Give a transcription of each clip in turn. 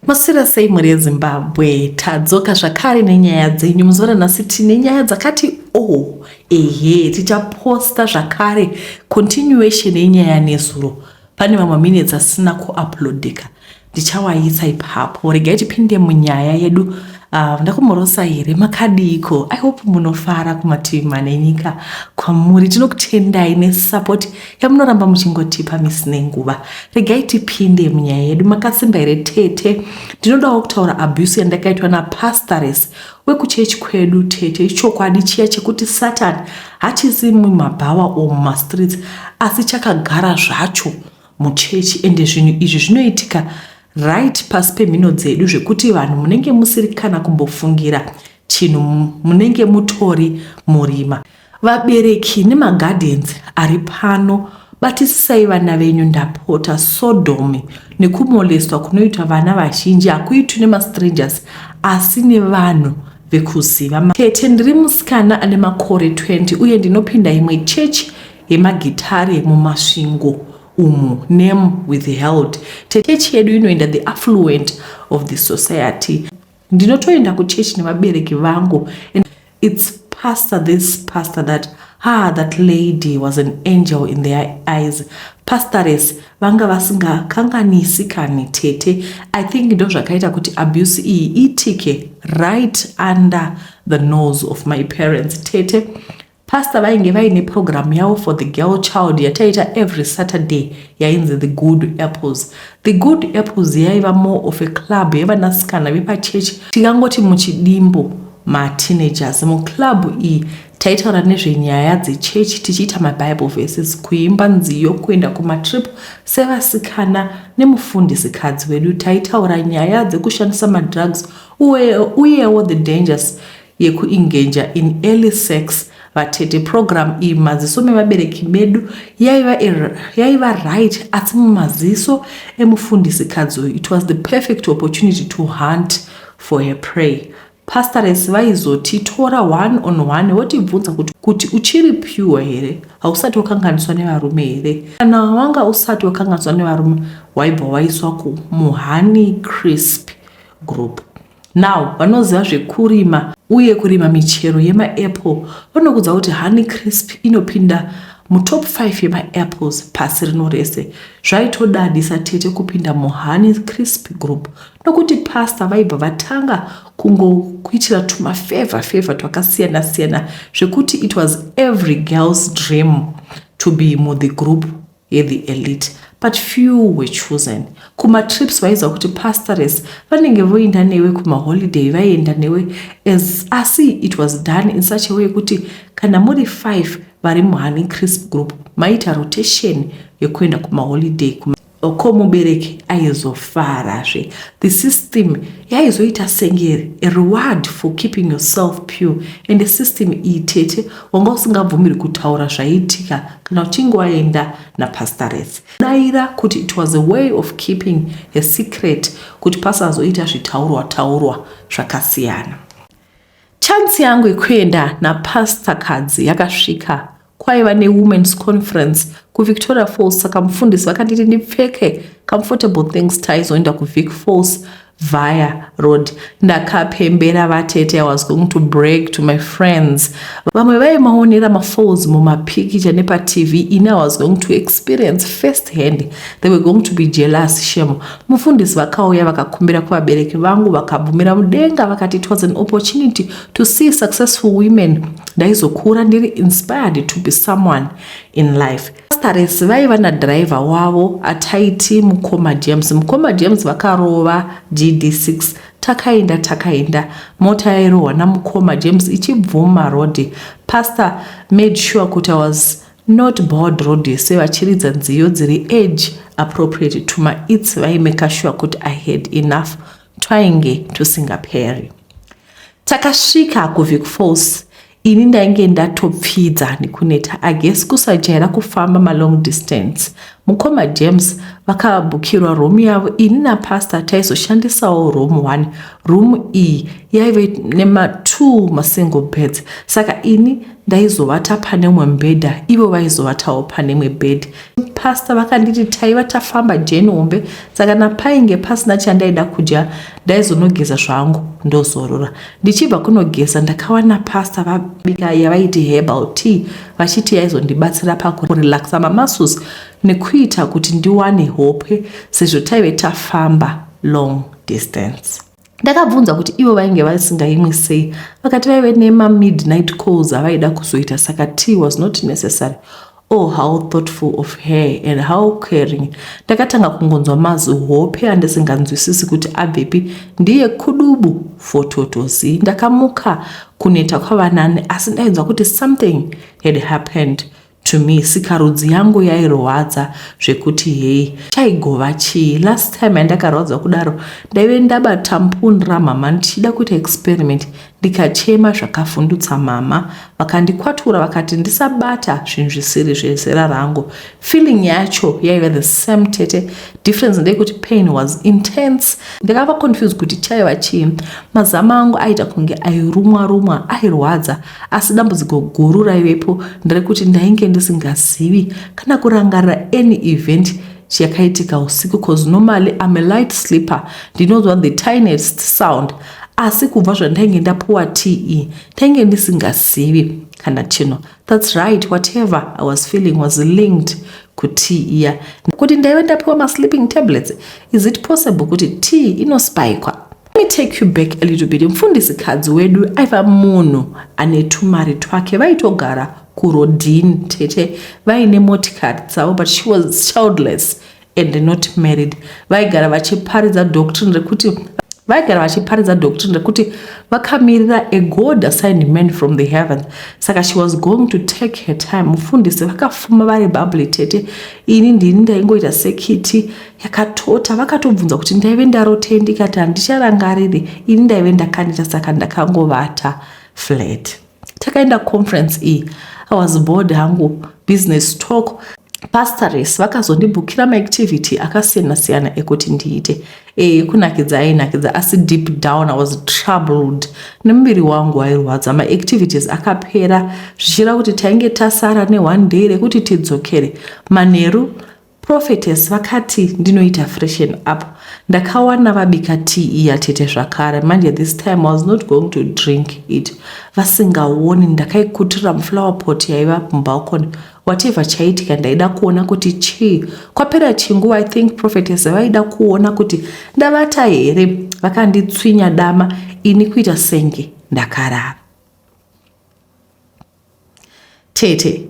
Maswera sei mhuri yeZimbabwe? Tadzoka zvakare nenyaya dzenyu muzoona nhasi tine nyaya dzakati o oh, ehe tichaposta zvakare continuation yenyaya nezuro pane mamwe minutes asina kuuploadika ndichawaisa ipapo regai tipinde munyaya yedu Uh, ndakumborosa here makadiiko i hope munofara kumativi mane nyika kwamuri tinokutendai nesupport yamunoramba muchingotipa misi nenguva regai tipinde munyaya yedu makasimba here tete ndinodawo kutaura abuse yandakaitwa napastores wekuchechi kwedu tete ichokwadi chiya chekuti satan hachisi mumabhawa or mumastreets asi chakagara zvacho muchechi ende zvinhu izvi zvinoitika right pasi pemhino dzedu zvekuti vanhu munenge musiri kana kumbofungira chinhu munenge mutori murima vabereki nemaguardians ari pano batisisai vana venyu ndapota sodomi nekumolestwa kunoitwa vana vazhinji hakuitwi nemastrangers asi nevanhu vekuziva tete ndiri musikana ane makore 20 uye ndinopinda imwe chechi yemagitare yemuMasvingo umu name withheld techechi yedu inoenda the affluent of the society ndinotoenda kuchechi nevabereki vangu and its pastor this pastor that ah that lady was an angel in their eyes pastores vanga vasingakanganisi kani tete i think ndo zvakaita kuti abuse iyi itike right under the nose of my parents tete Pastor vainge vaine program yavo for the girl child yataita every Saturday yainzi the good apples. The good apples yaiva more of a club yevanasikana vepachurch tingangoti muchidimbo mateenagers. Muclub iyi taitaura nezvenyaya dzechurch tichiita mabible verses, kuimba nziyo, kuenda kumatrip sevasikana nemufundisi kadzi wedu. Taitaura nyaya dzekushandisa madrugs uyewo the dangers yeku engager in early sex vatete program iyi mumaziso mevabereki medu yaiva yaiva right asi mumaziso emufundisi kadzi uyu it was the perfect opportunity to hunt for her prey pastores vaizotitora one on one votibvunza kuti kuti uchiri pure here hausati wakanganiswa nevarume here kana wanga usati wakanganiswa nevarume waibva waiswa kumuhoney crisp group Now vanoziva zvekurima uye kurima michero yemaapple vanokudza kuti Honey Crisp inopinda mutop 5 yemaapples pasi rino rese. Zvaitodadisa tete kupinda muHoney Crisp group nokuti pasta vaibva vatanga kungokuitira tumafevha fevha twakasiyana siyana zvekuti it was every girl's dream to be muthe group. ye the elite but few were chosen kuma trips vaiziva kuti pastores vanenge voinda newe kuma holiday vaienda newe as asi it was done in such a way kuti kana muri five vari muhani crisp group maita rotation yekuenda kuma holiday kuma ko mubereki aizofarazve the system yaizoita senge reward for keeping yourself pure and the system iyi tete wanga usingabvumiri kutaura zvaiitika kana uchinge waenda napastareth daira kuti it was a way of keeping a secret kuti pasazoita zvitaurwa taurwa zvakasiyana chansi yangu yekuenda napastor kadzi yakasvika kwaiva newomens conference kuvictoria falls saka mufundisi vakanditi ndipfeke comfortable things taizoenda kuvic falls via road ndakapembera vatete i was going to break to my friends vamwe vaimaonera mafalls mumapikicha nepatv ini i was going to experience first hand they were going to be jealous shem mufundisi vakauya vakakumbira kuvabereki vangu vakabvumira mudenga vakati it was an opportunity to see successful women ndaizokura ndiri inspired to be someone in life Pastores vaiva nadriver wavo ataiti mukoma James. Mukoma James vakarova GD6 takaenda takaenda mota yairohwa namukoma James ichibvuma road. Pastor made sure kuti I was not bored road yese vachiridza nziyo dziri age appropriate to my its vaimeka sure kuti I had enough twainge tusingaperi. Takasvika kuVic Falls ini ndainge ndatopfidza nekuneta ages kusajaira kufamba malong distance mukoma james vakabhukirwa room yavo ini napastor taizoshandisawo room one room iyi yaive nematwo masingle beds saka ini ndaizovata pane umwe mbhedha ivo vaizovatawo pane imwe bed pastor vakanditi taiva tafamba jeni hombe saka napainge pasina chandaida kudya ndaizonogeza zvangu ndozorora Ndichibva kunogeza ndakawana pasta vabika yavaiti herbal tea vachiti yaizondibatsira pakurelaxa mamasus nekuita kuti ndiwane hope sezvo taive tafamba long distance. Ndakabvunza kuti ivo vainge vasingaimwi sei vakati vaive nema midnight calls avaida kuzoita saka tea was not necessary. Oh, how thoughtful of her and how caring. Ndakatanga kungonzwa mazihope andisinganzwisisi kuti abvepi. Ndiye kudubu for totozi. Ndakamuka kuneta kwavanani asi ndainzwa kuti something had happened to me sikarudzi yangu yairwadza zvekuti hei chaigova chii last time yandakarwadzwa kudaro ndaive ndabata mpun ramama ndichida kuita experiment ndikachema zvakavhundutsa mama vakandikwatura vakati ndisabata zvinhu zvisiri zvezera rangu feeling yacho yaive the same tete difference ndeyekuti pain was intense ndakava confused kuti chaiva chii mazama angu aita kunge airumwa rumwa airwadza asi dambudziko guru raivepo nderekuti ndainge ndisingazivi kana kurangarira any event chiyakaitika usiku cause normally I'm a light sleeper ndinonzwa the tiniest sound asi kubva zvandainge ndapuwa te ndainge ndisingazivi kana chino thats right whatever i was feeling was linked kutea iya kuti ndaive ndapiwa masleeping tablets is it possible kuti tea inospikwa me take you back a little bit mfundisi kadzi wedu aiva munhu ane tumari twake vaitogara kurodin tete vaine motikari dzavo but she was childless and not married vaigara vachiparidza doctrine rekuti vaigara vachiparidza doctrine rekuti vakamirira a god assigned man from the heavens saka she was going to take her time mufundisi vakafuma vari babli tete ini ndini ndaingoita sekiti yakatota vakatobvunza kuti ndaive ndarotei ndikati handicharangariri ini ndaive ndakaneta saka ndakangovata flat takaenda conference iyi i was bored hangu business talk pastores vakazondibhukira maactivity akasiyana siyana ekuti ndiite e, kunakidza ainakidza asi deep down i was troubled nemuviri wangu wairwadza maactivities akapera zvichira kuti tainge tasara neone day rekuti tidzokere manheru Prophetess vakati ndinoita freshen up ndakawana vabika tea iya tete zvakare manje this time I was not going to drink it vasingaoni ndakaikutira muflower pot yaiva mubalcony whatever chaitika ndaida kuona kuti chii kwapera chinguva I think prophetess vaida kuona kuti ndavata here vakanditswinya dama ini kuita senge ndakarara tete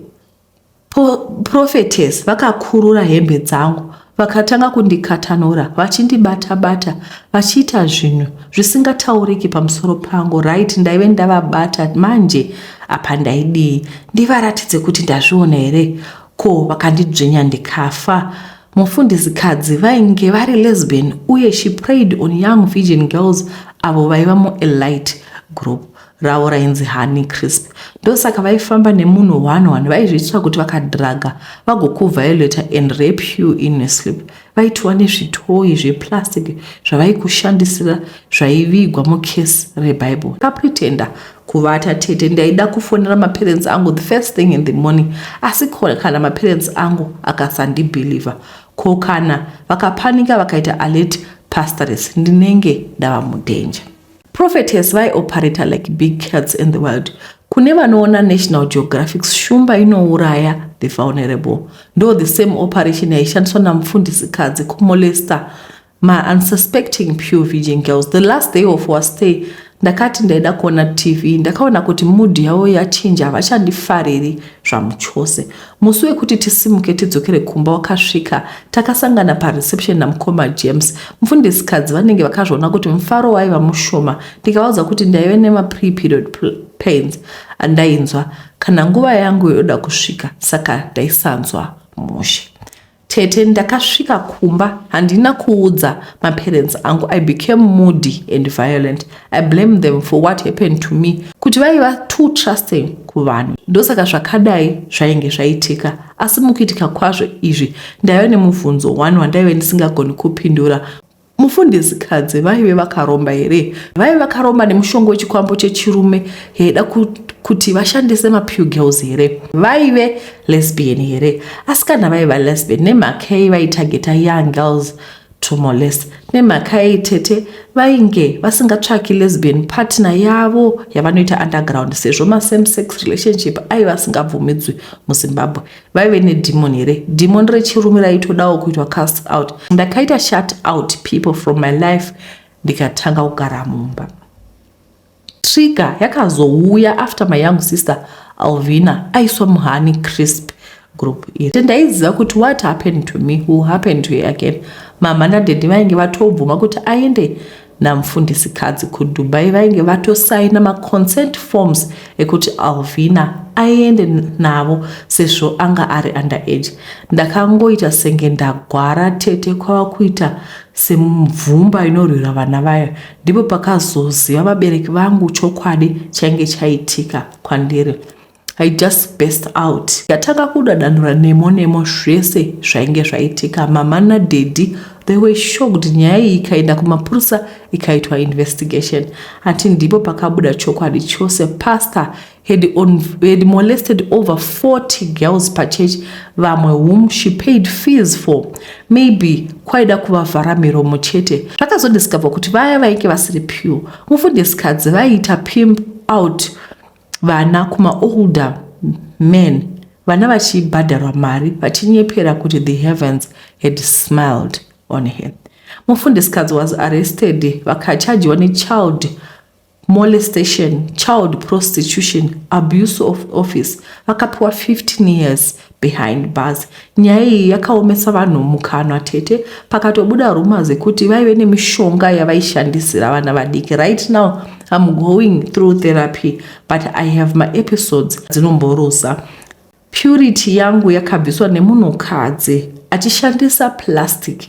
Prophetess vakakurura hembe dzangu vakatanga kundikatanura vachindibata bata vachiita zvinhu zvisingatauriki pamusoro pangu right ndaive ndavabata manje apa ndaidii ndivaratidze kuti ndazviona here ko vakandidzvinya ndikafa mufundizikadzi vainge vari lesbian uye she prayed on young virgin girls avo vaiva muelite group ravo rainzi Honey Crisp. Ndosaka vaifamba nemunhu one one vaizviitira kuti vakadhiraga vagokuviolator and rape you in your sleep. Vaitova nezvitoyi zveplastic zvavaikushandisira zvaivigwa mucase reBible. Kapretenda kuvata tete ndaida kufonera maparents angu the first thing in the morning asi ko kana maparents angu akasandibhilivha ko kana vakapanika vakaita alert pastoress ndinenge ndava mudenja. Prophetess vai operator like big cats in the world. Kune vanoona National Geographic shumba inouraya the vulnerable. Ndo the same operation yaishandiswa namufundisi kadzi kumolester ma unsuspecting pure virgin girls. The last day of our stay ndakati ndaida kuona TV ndakaona kuti mood yavo yachinja havachandifariri zvamuchose. Musi wekuti tisimuke tidzokere kumba wakasvika. Takasangana pareception namukoma James. Mfundisikadzi vanenge vakazviona kuti mufaro waiva mushoma ndikavaudza kuti ndaive nemapre-period pains andainzwa kana nguva yangu yoda kusvika saka ndaisanzwa mushe. Tete ndakasvika kumba handina kuudza maparents angu I became moody and violent I blame them for what happened to me kuti vaiva too trusting kuvanhu ndosaka zvakadai zvainge zvaitika asi mukuitika kwazvo izvi ndaiva nemubvunzo one wandaive ndisingagoni kupindura Mufundidzikadzi vaive vakaromba here? Vaive vakaromba nemushonga wechikwambo chechirume yaida kuti vashandise mapew girls here? Vaive lesbian here? Asikana vaiva lesbian nemhakei vaitageta young girls to molest nemhakei tete vainge vasingatsvaki lesbian partner yavo yavanoita underground sezvo masame sex relationship aiva asingabvumidzwi muzimbabwe vaive nedemon here demon rechirume raitodawo kuitwa cast out ndakaita shut out people from my life ndikatanga kugara mumba trigger yakazouya after my young sister alvina aiswa muhani crisp group iri te ndaiziva kuti what happened to me will happen to her again mama nadhedhi vainge vatobvuma kuti aende namfundisikadzi kuDubai vainge vatosaina maconsent forms ekuti Alvina aende navo sezvo anga ari under age. Ndakangoita senge ndagwara tete kwava kuita semumvumba inorwira vana vayo. Ndipo pakazoziva vabereki vangu chokwadi chainge chaitika kwandiri. I just burst out ndatanga kudadanura nemo nemo zvese zvainge zvaitika mama nadaddy they were shocked nyaya iyi ikaenda kumapurisa ikaitwa investigation ati ndipo pakabuda chokwadi chose pastor had, on, had molested over 40 girls pachurch vamwe whom she paid fees for maybe kwaida kuvavhara miromo chete zvakazodiscover kuti vaya vainge vasiri pure mufundisikadzi vaiita pimp out vana kuma older men vana vachibhadharwa mari vachinyepera kuti the heavens had smiled on her mufundisikadzi was arrested vakachajiwa nechild molestation child prostitution abuse of office vakapiwa 15 years Behind bars nyaya iyi yakaomesa vanhu mukanwa tete pakatobuda rumors dzekuti vaive nemishonga yavaishandisira vana vadiki right now I'm going through therapy but I have my episodes dzinomboruza purity yangu yakabviswa nemunhukadzi achishandisa plastic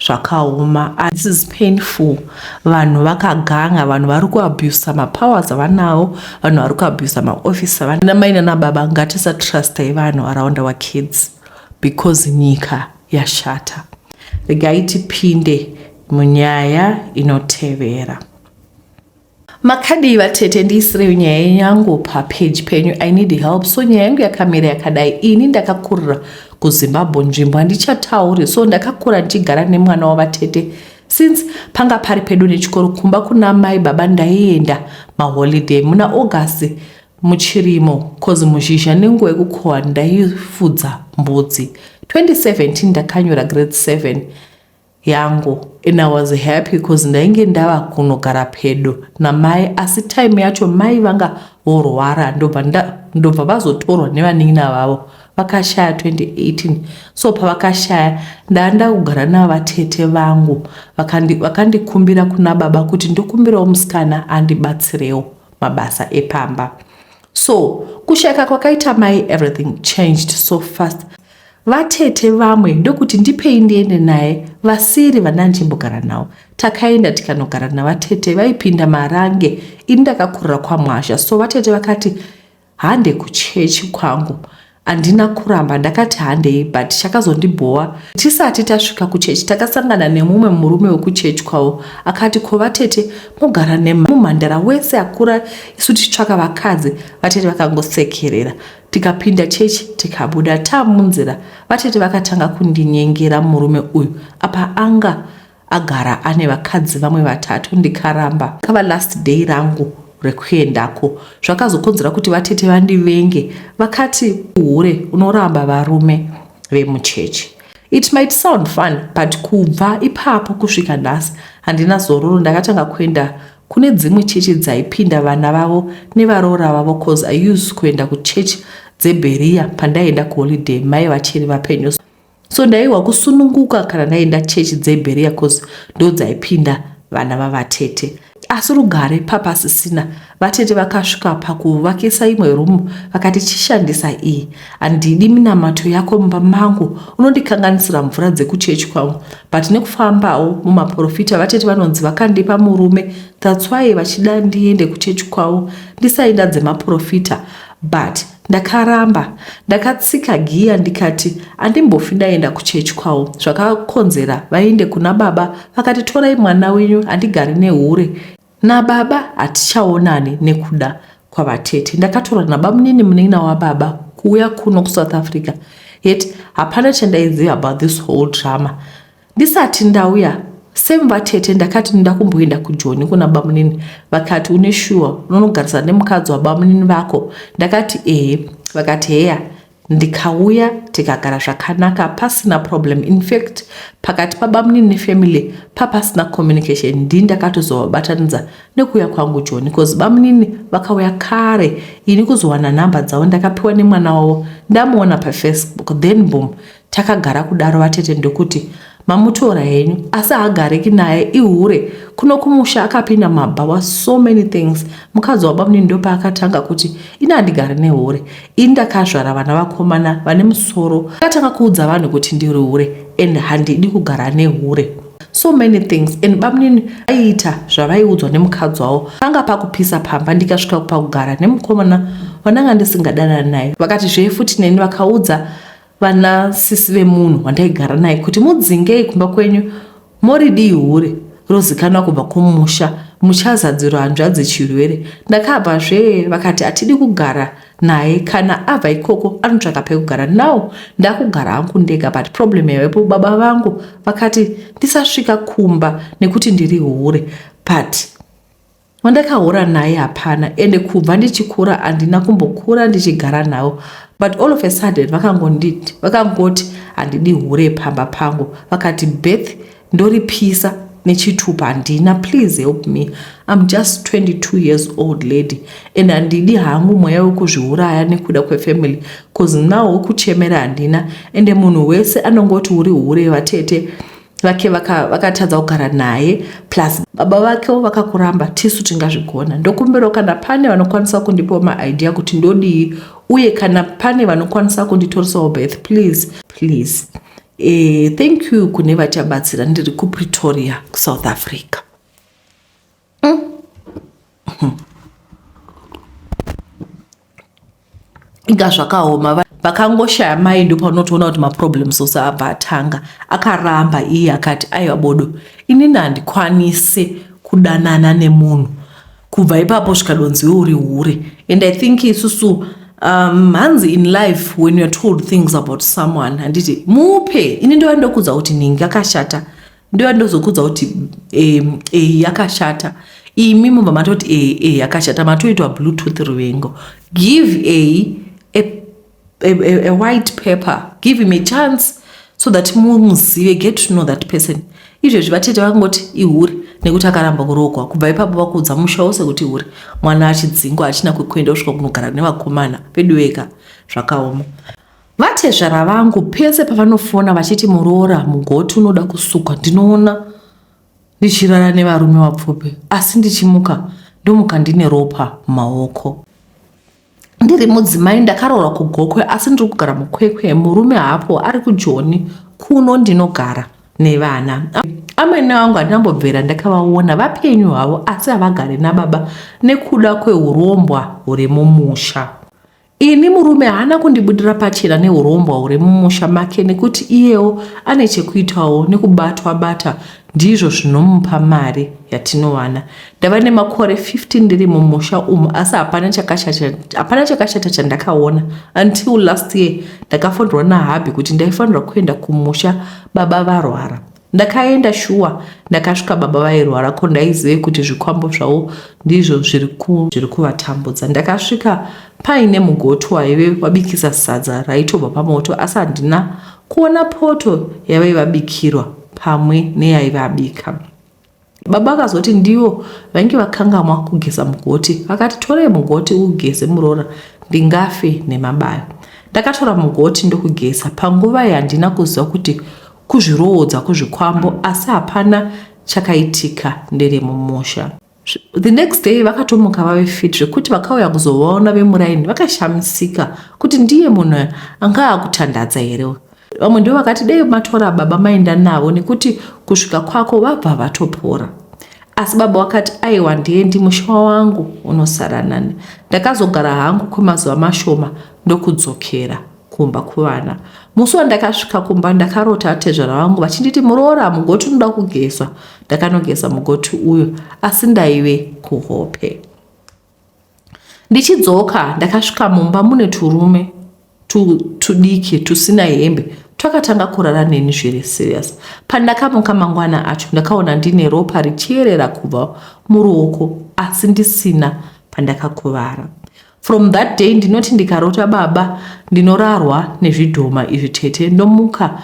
zvakaoma this is painful vanhu vakaganga vanhu vari kuabusa mapowers avanawo vanhu vari kuabusa maoffice avana mai nana baba ngatisa trustai vanhu around our kids because nyika yashata regai tipinde munyaya inotevera Makadii vatete ndiisireyo nyaya yenyu yangu papage penyu i need help so nyaya yangu yakamira yakadai ini ndakakurira kuzimbabwe nzvimbo handichatauri so ndakakura ndichigara nemwana wavatete since panga pari pedu nechikoro kumba kuna mai baba ndaienda maholiday muna august muchirimo cause muzhizha nenguva yekukohwa ndaifudza mbudzi 2017 ndakanyora grade 7 yangu and I was happy cause ndainge ndava kunogara pedo namai asi time yacho mai vanga vorwara ndobva ndobva vazotorwa nevanin'ina vavo vakashaya 2018 so pavakashaya ndaanda kugara navo vatete vangu vakandikumbira vakandi kuna baba kuti ndokumbirawo musikana andibatsirewo mabasa epamba so kushayika kwakaita mai everything changed so fast Vatete vamwe ndokuti ndipei ndiende naye vasiri vandandichimbogara nawo. Takaenda tikanogara navatete vaipinda marange ini ndakakurira kwamwazha so vatete vakati hande kuchechi kwangu handina kuramba ndakati handei but chakazondibhowa tisati tasvika kuchechi takasangana nemumwe murume wekuchechi kwavo akati ko vatete mogara nemumhandara wese akura isu tichitsvaka vakadzi vatete vakangosekerera tikapinda chechi tikabuda ta munzira vatete vakatanga kundinyengera murume uyu apa anga agara ane vakadzi vamwe vatatu ndikaramba kava last day rangu rekuendako zvakazokonzera kuti vatete vandivenge vakati uhure unoramba varume vemuchechi it might sound fun but kubva ipapo kusvika nhasi handina zororo ndakatanga kuenda Kune dzimwe chechi dzaipinda vana vavo nevaroora vavo coz I used kuenda kuchurch dzeBerea pandaienda kuholiday mai vachiri vapenyu so ndaihwa kusununguka kana ndaenda chechi dzeBerea coz ndodzaipinda vana vavatete. Asi rugare papasisina, vatete vakasvika pakuvakisa imwe room vakati chishandisa iyi. Handidi minamato yako mumba mangu, unondikanganisira mvura dzekuchechi kwangu. But nekufambawo mumaporofita vatete vanonzi vakandipa murume that's why vachida ndiende kuchechi kwavo ndisaida dzemaporofita but ndakaramba. Ndakatsika giya ndikati andimbofi ndaenda kuchechi kwavo zvakakonzera vaende kuna baba vakati torai mwana wenyu handigari nehure Nababa hatichaonani nekuda kwavatete. Ndakatorwa nabamunini munin'ina wababa kuuya kuno kuSouth Africa yet hapana chandaiziva about this whole drama. Ndisati ndauya same vatete ndakati ndoda kumboenda kujoni kuna bamunini vakati une shuwa unonogarisana nemukadzi wabamunini vako ndakati ehe vakati heya ndikauya tikagara zvakanaka pasina problem infact pakati pabamunini nefamily papasina communication ndii ndakatozovabatanidza nekuuya kwangu joni bcause bamunini vakauya kare ini kuzowana nhamba dzavo ndakapiwa nemwana wavo ndamuona pafacebook then boom takagara kudaro vatete ndokuti mamutora henyu asi haagariki naye ihure kuno kumusha akapinda mabhawa so many things mukadzi wabamnini ndopaakatanga kuti ini handigari nehure ini ndakazvara vana vakomana vane musoro akatanga kuudza vanhu kuti ndiri hure and handidi kugara nehure so many things and bamnini aiita zvavaiudzwa nemukadzi wavo panga pakupisa pamba ndikasvika pakugara nemukomana vandanga ndisingadanana naye vakati zvee futi neni vakaudza Vana sisi vemunhu wandaigara naye kuti mudzingei kumba kwenyu moridii hure rozikanwa kubva kumusha muchazadziro hanzvadzi chirwere ndakabva zvee vakati hatidi kugara naye kana abva ikoko anotsvaka pekugara now ndakugara hangu ndega but problem yavepo baba vangu vakati ndisasvika kumba nekuti ndiri hure but Wandakahura naye hapana ende kubva ndichikura handina kumbokura ndichigara navo but all of a sudden vakangonditi vakangoti handidi hure pamba pangu vakati birth ndoripisa nechitupa handina please help me im just 22 years old lady and handidi hangu mweya wekuzviuraya nekuda kwefamily bcause now wekuchemera handina ende munhu wese anongoti uri hure vatete vake vakatadza vaka kugara naye plus baba vake vakakuramba tisu tingazvigona ndokumbirawo kana pane vanokwanisa kundipawo maidea kuti ndodii uye kana pane vanokwanisa kunditorisawo birth please please e, thank you kune vachabatsira ndiri kupretoria kusouth africa inga zvakaoma vakangoshaya mai ndipo unotoona kuti maproblems ose abva atanga akaramba iye akati aiwa bodo inini handikwanise kudanana nemunhu kubva ipapo zvikadonziwe uri hure and i think isusu um, hanzi in life when youare told things about someone handiti mupe ini ndova ndokudza kuti ningi akashata ndoya ndozokudza kuti eh, eh, yakashata imi mubva matoti eh, eh, yakashata matoitwa bluetooth ruvengo give a, a, a, a white paper give him a chance so that mumuzive get to know that person izvezvi vatete vakangoti ihure nekuti akaramba kuroogwa kubva ipapo vakuudza musha wose kuti hure mwana achidzingwa achina kwekuenda kusvika kunogara nevakomana veduweka zvakaoma Vatezvara vangu pese pavanofona vachiti muroora mugoti unoda kusukwa ndinoona ndichirara nevarume vapfupi asi ndichimuka ndomuka ndine ropa mumaoko. Ndiri mudzimai ndakaroora kugokwe asi ndiri kugara mukwekwe murume hapo ari kujoni kuno ndinogara nevana. Amwene vangu handinambobvera ndakavaona vapenyu havo asi havagare nababa nekuda kwehurombwa huri mumusha. Ini murume haana kundibudira pachena neurombwa huri mumusha make nekuti iyewo ane chekuitawo nekubatwa bata ndizvo zvinomupa mari yatinowana. Ndava nemakore 15 ndiri mumusha umu asi hapana chakashata, hapana chakashata chandakaona until last year ndakafonderwa nahabhi kuti ndaifanirwa kuenda kumusha baba varwara. Ndakaenda shuwa ndakasvika baba vairwara ko ndaizive kuti zvikwambo zvavo ndizvo zviri kuvatambudza. Ndakasvika paine mugoti waive wabikisa sadza raitobva pamoto asi handina kuona poto yavaive vabikirwa pamwe neyaive abika. Baba vakazoti ndivo vainge vakangamwa kugeza mugoti vakati torei mugoti ugeze muroora ndingafe nemabayo. Ndakatora mugoti ndokugeza panguva iyi handina kuziva kuti kuzviroodza kuzvikwambo asi hapana chakaitika ndere mumusha. The next day vakatomuka vave fit zvekuti vakauya kuzovaona vemuraini vakashamisika kuti ndiye munhu anga akutandadza here. vamwe ndivo vakati dei matora baba maenda navo nekuti kusvika kwako vabva vatopora asi baba wakati aiwa ndiendi musha wangu unosara nani ndakazogara hangu kwemazuva mashoma ndokudzokera kumba kuvana musi wandakasvika kumba ndakarota atezvara vangu vachinditi muroora mugoti unoda kugeza ndakanogeza mugoti uyo asi ndaive kuhope Ndichidzoka ndakasvika mumba mune turume tudiki tusina hembe twakatanga kurara neni zviri serious. Pandakamuka mangwana acho ndakaona ndine ropa richierera kubva muruoko asi ndisina pandakakuvara. From that day ndinoti ndikarota baba ndinorarwa nezvidhoma izvi tete ndomuka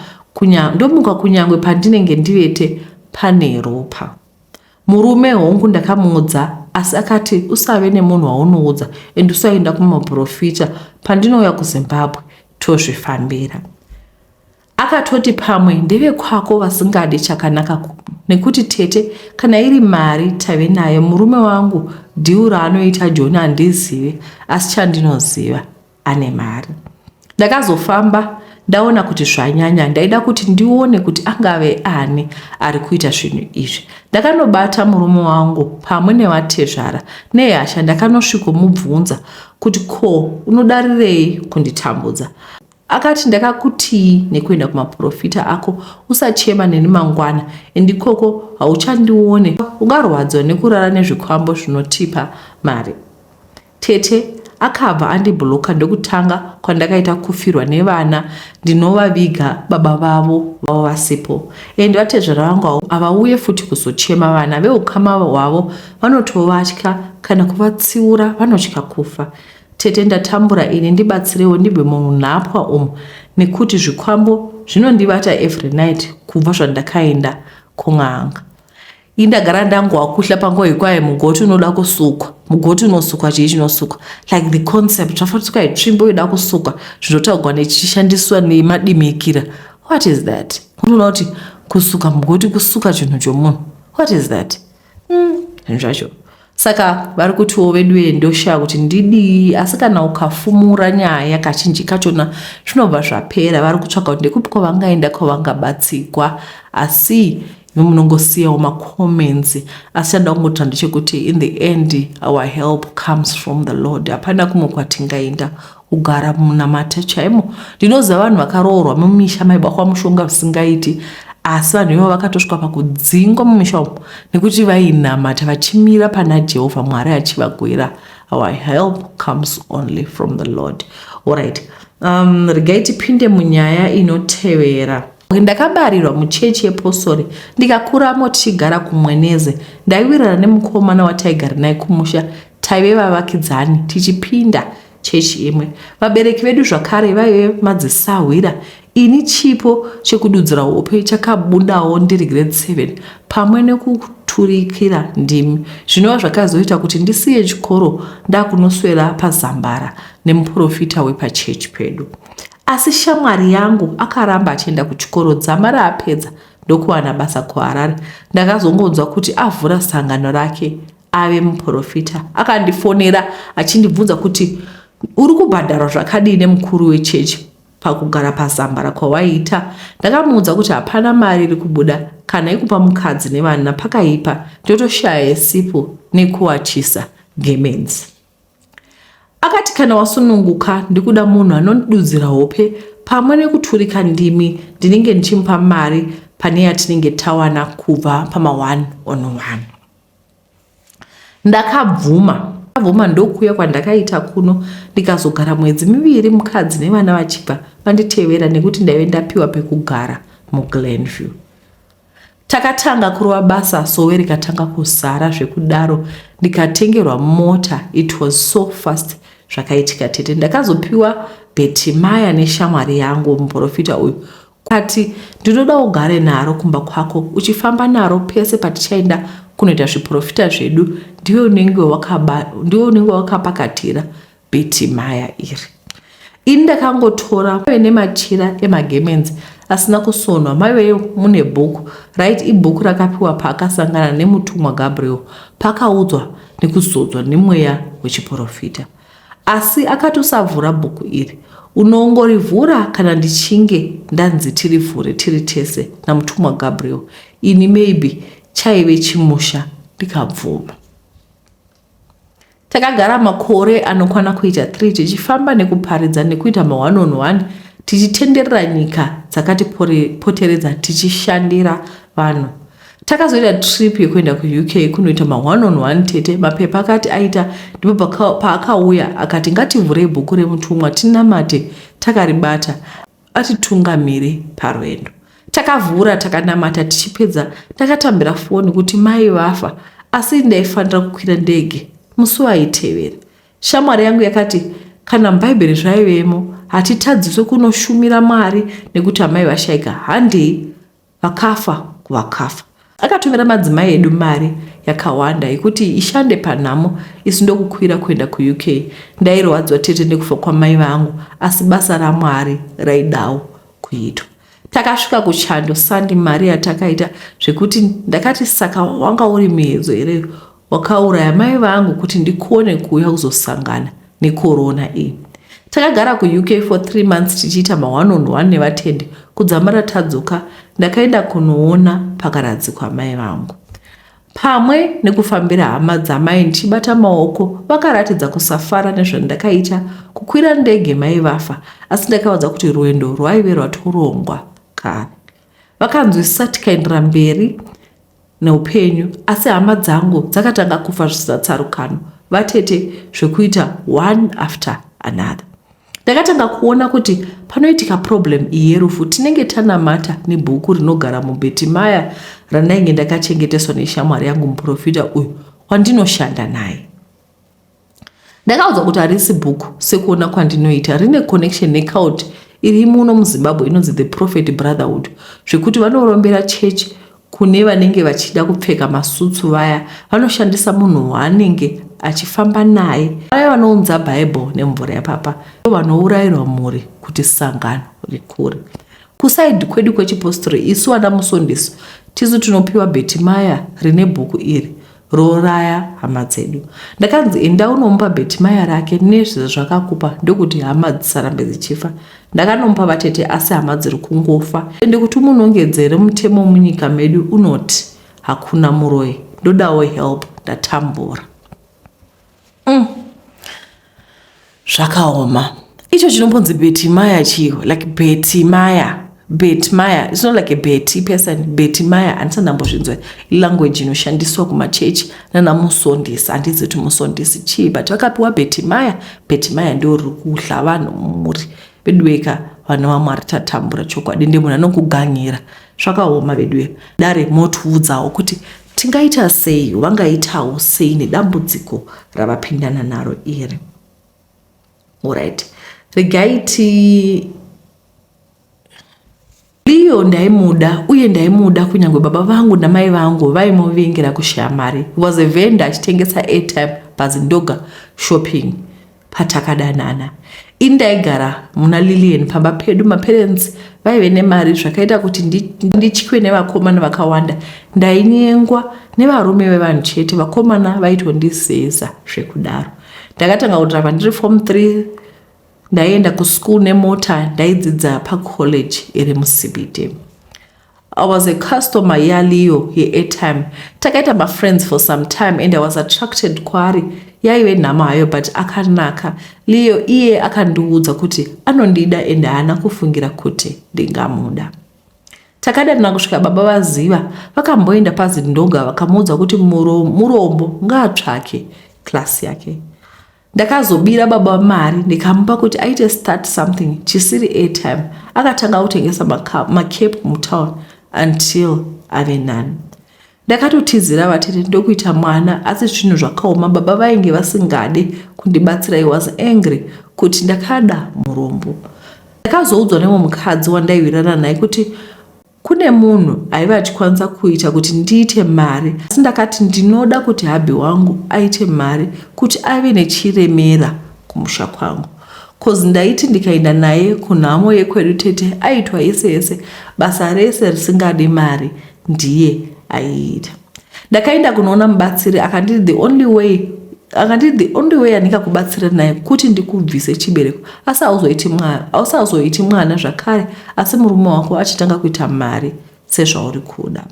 kunyangwe pandinenge ndivete pane ropa. Murume hongu ndakamuudza asi akati usave nemunhu waunoudza and usaenda kumaprofita pandinouya kuzimbabwe tozvifambira akatoti pamwe ndevekwako vasingadi chakanaka nekuti tete kana iri mari tave nayo murume wangu dhiu raanoita joni handizive asi chandinoziva ane mari ndakazofamba ndaona kuti zvanyanya ndaida kuti ndione kuti angave ani ari kuita zvinhu izvi ndakanobata murume wangu pamwe nevatezvara nehasha ndakanosvikomubvunza kuti ko unodarirei kunditambudza akati ndakakutii nekuenda kumaprofita ako usachema neni mangwana endikoko hauchandione ungarwadziwa nekurara nezvikwambo zvinotipa mari Tete akabva andiblocker ndokutanga kwandakaita kufirwa nevana ndinovaviga baba vavo vavo vasipo and vatezvara vangu avo havauye futi kuzochema vana veukama hwavo vanotovatya kana kuvatsiura vanotya kufa tete ndatambura ini ndibatsirewo ndibve munhapwa umu nekuti zvikwambo zvinondibata every night kubva zvandakaenda kun'anga indagara ndangowa kuhla panguva yekwaye mugoti unoda kusukwa mugoti unosukwa chii chinosukwa like the concept zvafanisukwa itsvimbo yoda kusukwa zvinotaurwa nechishandiswa nemadimikira what is that unoona kuti kusuka mugoti kusuka chinhu chomunhu what is that hmm, zvinhu mm, zvacho Saka vari kutiwo veduwe ndoshaa kuti ndidii asi kana ukafumura nyaya kachinji kachona zvinobva zvapera vari kutsvaga kuti ndekupi kwavangaenda kwavangabatsigwa asi imi munongosiyawo macomments asi chanda kungotira ndechekuti in the end our help comes from the lord hapana kumwe kwatingaenda kugara munamate chaimo ndinoziva vanhu vakaroorwa mumisha maibakwa mushonga zvisingaiti asi vanhu ivo vakatosvika pakudzingwa mumisha umo nekuti vainamata vachimira pana jehovha mwari achivagwira our help comes only from the lord allright um, regai tipinde munyaya inotevera Ndakabarirwa muchechi yepostori ndikakuramo tichigara kumweneze. Ndaiwirirana nemukomana wataigara naye kumusha, taive vavakidzani tichipinda chechi imwe. Vabereki vedu zvakare vaive madzisahwira. Ini chipo chekududzira hope chakabundawo ndiri grade 7 pamwe nekuturikira ndimi zvinova zvakazoita kuti ndisiye chikoro ndakunoswera pazambara nemuprofita wepachechi pedu. Asi shamwari yangu akaramba achienda kuchikoro dzama raapedza ndokuwana basa kuharare ndakazongonzwa kuti avhura sangano rake ave muprofita akandifonera achindibvunza kuti uri kubhadharwa zvakadii nemukuru wechechi pakugara pazambara kwawaiita ndakamuudza kuti hapana mari iri kubuda kana ikupa mukadzi nevana pakaipa ndotoshaya yesipo nekuwachisa gemenzi Akati kana wasununguka ndikuda munhu anondidudzira hope pamwe nekuturika ndimi ndinenge ndichimupa mari pane yatinenge tawana kubva pama one on one. Ndakabvuma ndakabvuma ndokuuya kwandakaita kuno ndikazogara mwedzi miviri mukadzi nevana vachibva vanditevera nekuti ndaive ndapiwa pekugara muglenview Takatanga kurova basa sowe rikatanga kuzara zvekudaro ndikatengerwa mota it was so fast zvakaitika tete ndakazopiwa Betimaya neshamwari yangu muprofita uyu kati ndinoda ugare naro kumba kwako uchifamba naro pese patichaenda kunoita zviprofita zvedu ndiwe unenge wakapakatira Betty Maya iri. Ini ndakangotora maive nemachira emagemenzi asina kusonwa maive mune bhuku raiti ibhuku rakapiwa paakasangana nemutumwa Gabriel paakaudzwa nekuzodzwa nemweya wechiporofita. Asi akati usavhura bhuku iri, unongorivhura kana ndichinge ndanzi tirivhure tiri tese namutumwa Gabriel. Ini maybe chaive chimusha ndikabvuma. Takagara makore anokwana kuita 3 tichifamba nekuparidza nekuita ma one on one tichitenderera nyika dzakatipoteredza tichishandira vanhu. Takazoita trip yekuenda kuUK kunoita ma one on one tete mapepa akati aita ndipo paakauya akati ngativhurei bhuku remutumwa tinamate takaribata atitungamire parwendo. Takavhura takanamata tichipedza ndakatambira foni kuti mai vafa asi ndaifanira kukwira ndege musi waitevera. Shamwari yangu yakati kana mubhaibheri zvaivemo hatitadziswe kunoshumira Mwari nekuti amai vashaika handei Vakafa kuvakafa. Akatumira madzimai edu mari yakawanda yekuti ishande panhamo isu ndokukwira kuenda kuUK. Ndairwadzwa tete nekufa kwamai vangu asi basa raMwari raidawo kuitwa. Takasvika kuchando sandi mari yatakaita zvekuti ndakati saka wanga uri muedzo here Wakauraya mai vangu kuti ndikone kuuya kuzosangana nekorona iyi. Takagara kuUK for 3 months tichiita ma one on one nevatende kudzamara tadzoka ndakaenda kunoona pakaradzikwa mai vangu. Pamwe nekufambira hama dzamai ndichibata maoko vakaratidza kusafara nezvandakaita kukwira ndege mai vafa asi ndakavaudza kuti rwendo rwaive rwatorongwa kare. Vakanzwisisa tikaendera mberi neupenyu asi hama dzangu dzakatanga kufa zvisina tsarukano vatete zvekuita one after another ndakatanga kuona kuti panoitika problem iyi yerufu tinenge tanamata nebhuku rinogara mubheti maya randainge ndakachengeteswa neshamwari yangu muprofita uyu wandinoshanda naye ndakaudzwa kuti harisi book sekuona kwandinoita rine connection necaut iri muno muzimbabwe inonzi the prophet brotherhood zvekuti vanorombera church kune vanenge vachida kupfeka masutsu vaya vanoshandisa munhu waanenge achifamba naye vaya vanounza bible nemvura yapapa vanourairwa mhuri kuti sangano rikure kusaidi kwedu kwechipostori isu vana musondiso tisu tinopiwa bhetimaya rine bhuku iri rooraya hama dzedu ndakanzi enda unomupa bhetimaya rake nezvezvakakupa ndokuti hama dzisarambe dzichifa ndakanomupa vatete asi hama dziri kungofa ende kuti umunongedzere mutemo munyika medu unoti hakuna muroyi ndodawo help ndatambura Mm. Zvakaoma. Icho chinombonzi Betimaya chiyo, like Betimaya. Betimaya, it's not like a Betty person. Betimaya handisa ndambozvinzwa language inoshandiswa kumachechi nana musondisi. Handizi kuti musondisi chii, but vakapiwa Betimaya. Betimaya ndio riri kuhla vanhu mumuri veduweka vana vaMwari tatambura chokwadi, ndiye munhu anokuganhira Zvakaoma veduwe, dare motiudzawo kuti tingaita sei, vangaitawo sei nedambudziko ravapindana naro iri. Alright, regai ti Leo ndaimuda uye ndaimuda kunyange baba vangu namai vangu vaimuvingira kushaya mari. He was a vendor achitengesa airtime paZindoga shopping. Patakadanana ini ndaigara muna Lillian pamba pedu. Maparents vaive nemari zvakaita kuti nditywe nevakomana vakawanda. Ndainyengwa nevarume vevanhu chete, vakomana vaitondizeza zvekudaro. Ndakatanga kudhirava ndiri form 3 ndaienda kuschool nemota ndaidzidza pacollege iri muCBD. I was a customer yaLeo yeairtime. Takaita mafriends for some time and I was attracted kwaari. Yaive nhamo hayo but akanaka. Leo iye akandiudza kuti anondida and haana kufungira kuti ndingamuda. Takadanana kusvika baba vaziva vakamboenda paZindoga vakamuudza kuti murombo ngaatsvake class yake. ndakazobira baba mari ndikamupa kuti aite start something chisiri airtime akatanga kutengesa macape mutown until ave nani ndakatotizira vatete ndokuita mwana asi zvinhu zvakaoma baba vainge vasingade kundibatsira i was angry kuti ndakada murombo ndakazoudzwa nemwe mukadzi wandaiwirana naye kuti Kune munhu aive achikwanisa kuita kuti ndiite mari, asi ndakati ndinoda kuti hubby wangu aite mari kuti ave nechiremera kumusha kwangu coz ndaiti ndikaenda naye kunhamo yekwedu tete aitwa yese yese basa rese risingadi mari ndiye aiita. ndakaenda kunoona mubatsiri akanditi the only way akanditi the only way andingakubatsira naye kuti ndikubvise chibereko asi auzoiti mwana asi auzoiti mwana zvakare asi murume wako achitanga kuita mari sezvauri kuda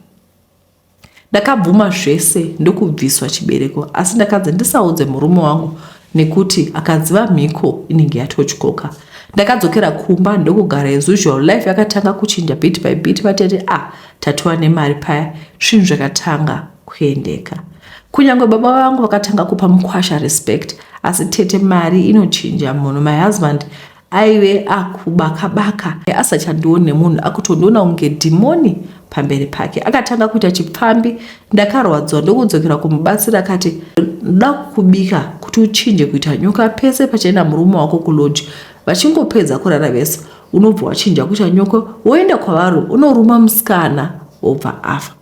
ndakabvuma zvese ndokubviswa chibereko asi ndakanzi ndisaudze murume wangu nekuti akaziva mhiko inenge yatotyoka ndakadzokera kumba ndokugara as usual life yakatanga kuchinja bit by bit vatete a ah, tatova nemari paya zvinhu zvakatanga kuendeka kunyange baba vangu vakatanga kupa mukwasha respect asi tete mari inochinja munhu my husband aive akubakabaka asachandioni nemunhu akutondiona kunge dhimoni pamberi pake akatanga kuita chipfambi ndakarwadziwa ndokudzokera kumubatsira akati ndoda kukubika kuti uchinje kuita nyoka pese pachaenda murume wako kuloji vachingopedza kurara vese unobva wachinja kuita nyoko woenda kwavari unoruma musikana wobva afa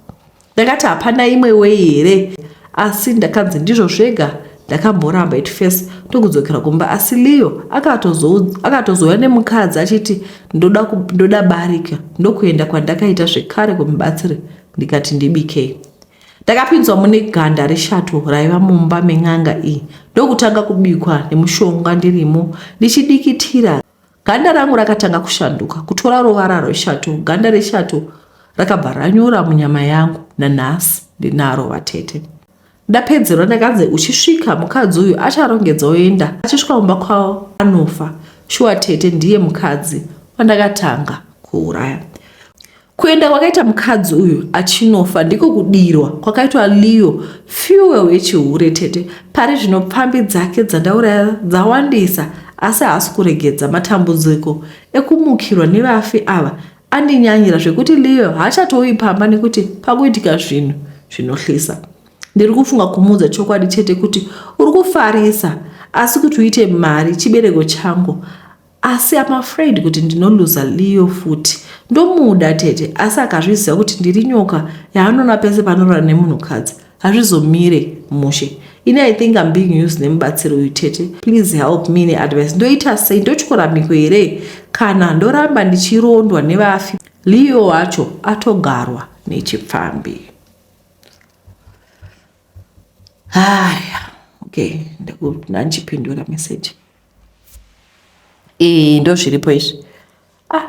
ndakati hapana imwe wei here asi ndakanzi ndizvo zvega ndakamboramba it first ndokudzokera kumba asi leo akatozouya nemukadzi achiti ndoda, ndoda barika ndokuenda kwandakaita zvekare kumubatsiri ndikati ndibikei ndakapinzwa mune ganda reshato raiva mumba men'anga iyi ndokutanga kubikwa nemushonga ndirimo ndichidikitira Ganda rangu rakatanga kushanduka kutora ruvara rweshato. Ganda reshato rakabva ranyura munyama yangu. Nanhasi ndinaro vatete. Ndapedzerwa ndakanzi uchisvika mukadzi uyu acharongedza oenda. Achisvika kumba kwavo anofa. Shuwa tete ndiye mukadzi wandakatanga kuuraya. Kuenda kwakaita mukadzi uyu achinofa ndiko kudirwa kwakaitwa Leo fuel yechihure tete. Pari zvino pfambi dzake dzandauraya dzawandisa asi haasi kuregedza. Matambudziko ekumukirwa nevafi ava andinyanyira zvekuti Leo haachatouyi pamba nekuti pakuitika zvinhu zvinohlisa. Ndiri kufunga kumuudza chokwadi chete kuti uri kufarisa asi kuti uite mari chibereko changu Asi I'm afraid kuti ndinoluza Leo futi. Ndomuda tete asi akazviziva kuti ndiri nyoka yaanoona pese panorora nemunhukadzi hazvizomire mushe. Ini I think I'm being used nemubatsiri uyu tete. Please help me neadvice. Ndoita sei? Ndotyora mhiko here kana ndoramba ndichirondwa nevafi? Leo wacho atogarwa nechipfambi. Haya, okay, ndakuna ndichipindura message. ee ndozviripo izvi ah,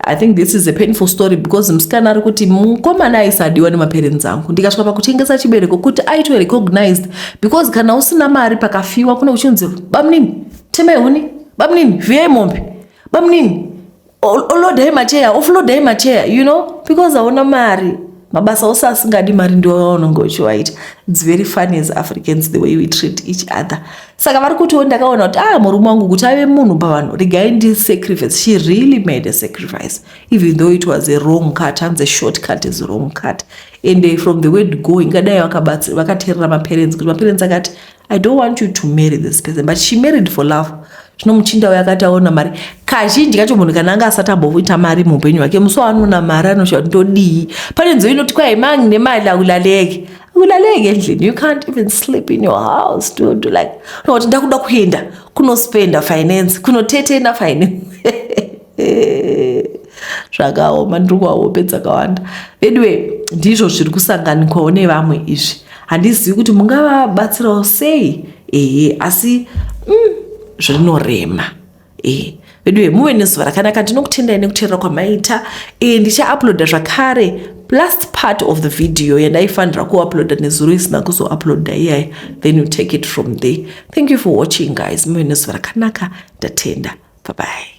i think this is a painful story because musikana ari kuti mukomana aisadiwa nemaparents angu ndikasvika pakutengesa chibereko kuti aitwe recognized because kana usina mari pakafiwa kune uchinzi bamunini temehuni bamunini viyai mombe bamunini olodai macheya oflodai macheya you know because hauna mari mabasa ose asingadi mari ndiwo vaunonge uchiwaita its very funny as africans the way we treat each other saka vari kutiwo ndakaona kuti ah murume wangu kuti ave munhu pavanhu regai ndi sacrifice she really made a sacrifice even though it was a wrong cut hanzi a short cut is wrong cut and eh, from the word go ingadai vakaterera maparents kuti maparents akati i don't want you to marry this person but she married for love zvino muchinda uyo akati aona mari kazhinji kacho munhu kana anga asati amboita mari muupenyu hwake musi waanoona mari anoshaa ndodii pane nzou inoti kwai mangi nemali aulaleke aulaleke endlini you can't even sleep in your house dudu like unoti ndakuda kuenda kunospenda finance kunotetena finance zvakaoma ndiri kuva hope dzakawanda veduwe ndizvo zviri kusanganikwawo nevamwe izvi handizivi kuti mungavabatsirawo sei ehe asi mm, zvinorema ehe veduwe muve nezuva rakanaka ndinokutendai nekuteerera kwamaita e, ndichauploada zvakare last part of the video yandaifanira kuuploada nezuro isina kuzouploada iyaya then you take it from there thank you for watching guys muve nezuva rakanaka ndatenda bye bye